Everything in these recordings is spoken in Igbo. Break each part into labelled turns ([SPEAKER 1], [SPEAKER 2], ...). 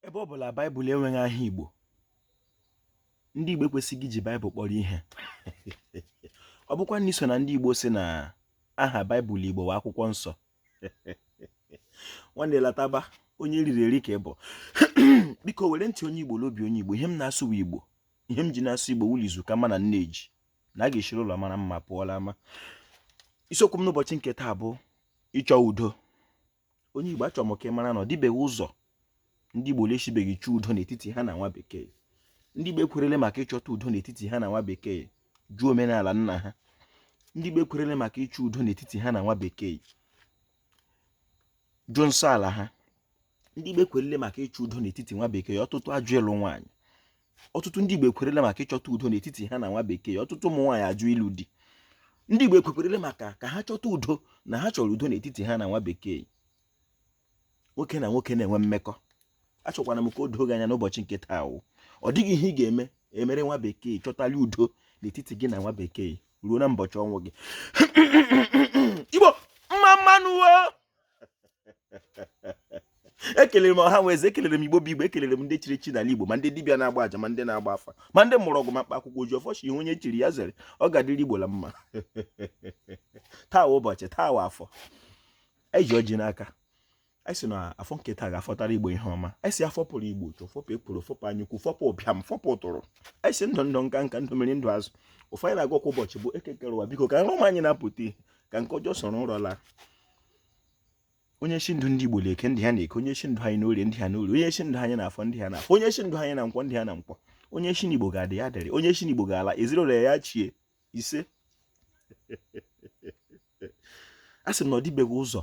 [SPEAKER 1] ebe ọ bụla baịbụl enweghị aha igbo ndị igbo ekwesịghị iji baịbụl kpọrọ ihe ọ bụkwa na i so na ndị igbo sị na aha baịbụl igbo wụ akwụkwọ nsọ nwanne lataba onye e riri eri ka ị bụ biko were ntị onye igbo na obi onye igbo ihe m na-asụ bụ igbo ihe m ji na-asụ igbo wụ la izu ka mma na nne ji na a ga-eshiri ụlọ mara mma pụọ la ama isiokwu m n'ụbọchị nke taa bụ ịchọ udo onye Igbo achọrọ m ka ị mara na ọ dịbeghị ụzọ ndị Igbo la-eshibeghị chọọ udo n'etiti ha na nwa bekee ndị Igbo ekwerele maka ịchọta udo n'etiti ha na nwa bekee jụọ omenala nna ha ndị Igbo ekwerele maka ịchọ udo n'etiti ha na nwa bekee jụọ nsọ ala ha ndị Igbo ekwerele maka ịchọ udo n'etiti nwa bekee ọtụtụ ajụ ịlụ nwaanyị ọtụtụ ndị Igbo ekwerele maka ịchọta udo n'etiti ha na nwa bekee ọtụtụ ụmụ nwaanyị ajụ ịlụ di ndị Igbo ekwekwerele maka ka ha chọta udo na ha chọrọ udo n'etiti ha na nwa bekee nwoke na nwoke na-enwe mmekọ achọkwara m ka o doo gị anya n'ụbọchị nke taa wụ ọ dịghị ihe ị ga-eme emere nwa bekee chọtali udo n'etiti gị na nwa bekee ruo na mbọchị ọnwụ gị igbo mma mma nụ ekelere m ọha na eze ekelere m igbo bụ igbo ekelere m ndị chiri echi n'ala igbo ma ndị dibịa na-agba aja ma ndị na-agba afa ma ndị mgbọrọgwụ ma mkpa akwụkwọ ojiọfọ shị ihe onye chiri ya zere ọ ga-adịrị igbo la mma taa ụbọchị taa wụ afọ anyị ji ọjị n'aka anyị sị na afọ nke taa ga-afọtara igbo ihe ọma anyị sị a fọpụrụ igbo uchu fọpụ ekworo fọpụ anyaukwu fọpụ ụbịam fọpụ ụtụrụ anyị sị ndụ ndụ nka nka ndụ mmiri ndụ azụ ọfọ ndụ a na-agọ kwa ụbọchị bụ eke kere ụwa biko ka nrọ ọma anyị na-apụta ihe ka nke ọjọọ soro nrọ laa onye shị ndụ ndị Igbo n'eke ndụ ya n'eke onye shị ndụ anyị n'orie ndụ ya n'orie onye shị ndụ anyị n'afọ ndụ ya n'afọ onye shị ndụ anyị na nkwọ ndụ ya na nkwọ onye shị na Igbo ga-adị ya dịrị onye shị na Igbo ga-ala ezinụlọ ya chie isee a sị m na ọ dịbeghị ụzọ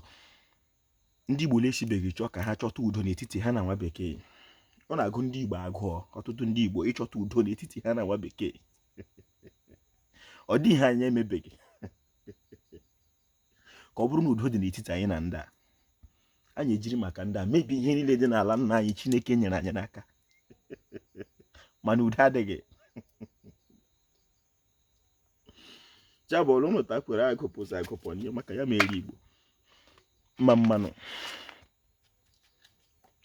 [SPEAKER 1] ndị Igbo na-esibeghị chọọ ka ha chọta udo n'etiti ha na nwa bekee ọ na-agụ ndị Igbo agụọ ọtụtụ ndị Igbo ịchọta udo n'etiti ha na nwa bekee ọ dịghị ihe anyị emebeghị ka ọ bụrụ na udo dị n'etiti anyị na ndị a anyị ejiri maka ndị a mebie ihe niile dị n'ala nna anyị chineke nyere anyị n'aka mana udo adịghị chabọlụ ụnụta kwere agụpụzi agụpụ n'ihe maka ya mere igbo mma mma nụ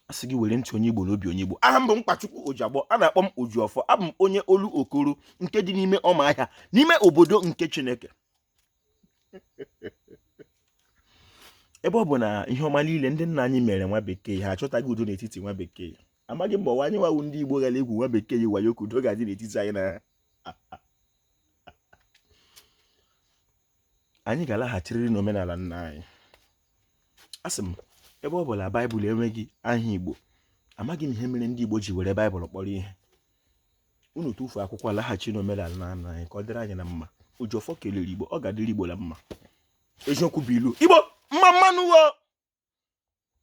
[SPEAKER 1] a sị gị were ntị onye igbo na obi onye igbo aha m bụ mkpachukwu ojiagbọ a na-akpọ m ojiọfọ abụ m onye olokoro nke dị n'ime ụmụahịa n'ime obodo nke chineke ebe ọ bụ na ihe ọma niile ndị nna anyị mere nwa bekee ha achọtaghị udo n'etiti nwa bekee amaghị m ọ wụ anyị nwa wụ ndị Igbo gara egwu nwa bekee yi wayo ka udo ga-adị n'etiti anyị na ha anyị ga-alaghachirịrị n'omenala nna anyị asị m ebe ọ bụla baịbụl enweghị aha Igbo amaghị m ihe mere ndị Igbo ji were baịbụl kpọrọ ihe unu tụfuo akwụkwọ laghachi n'omenala nna nna anyị ka ọ dịrị anyị na mma oji ọfọ kelere igbo ọ ga-adịrị igbo na mma eziokwu bụ ilu igbo mma mmanụ